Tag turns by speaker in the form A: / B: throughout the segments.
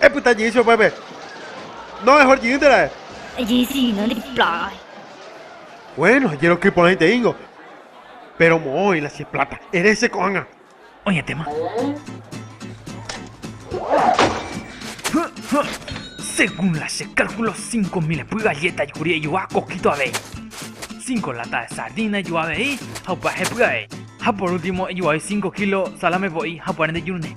A: Epyta jey che upépe. No mejor jiýnte ra'e. Jey signo de plata. Bueno, jeroky porãiteíngo. Péro moõ oĩ la che pláta. Ere che ko'ág̃a. Oñetéma. Según la che cálculo cinco mil epy galleta jekuri ejuha coquito avei. Cinco lata de sardina ejuha avei ha upyahepy avei. Ha por último ejuhai cinco kilo salame voi ha upárente jurune.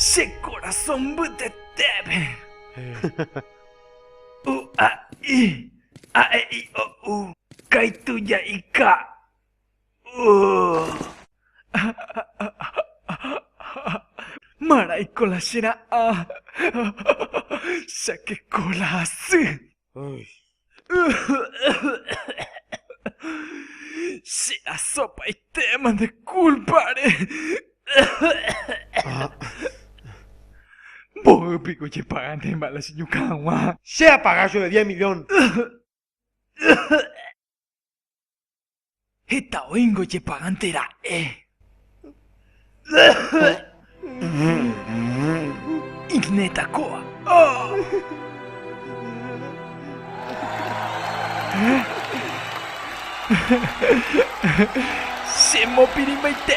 A: Che korasõ mbytetépe! U a i a e i o u Kaitu ja'ika Marãiko la che ra'ã Chakeko la asy. Che asopaitéma nde kúlpare. Mboy piko jepagandéma la cheñuka hag̃ua. Che apaga jove diez milión. Heta oĩngo ojepagánte ra'e. Igneta kóva. Che mopirĩmbaite.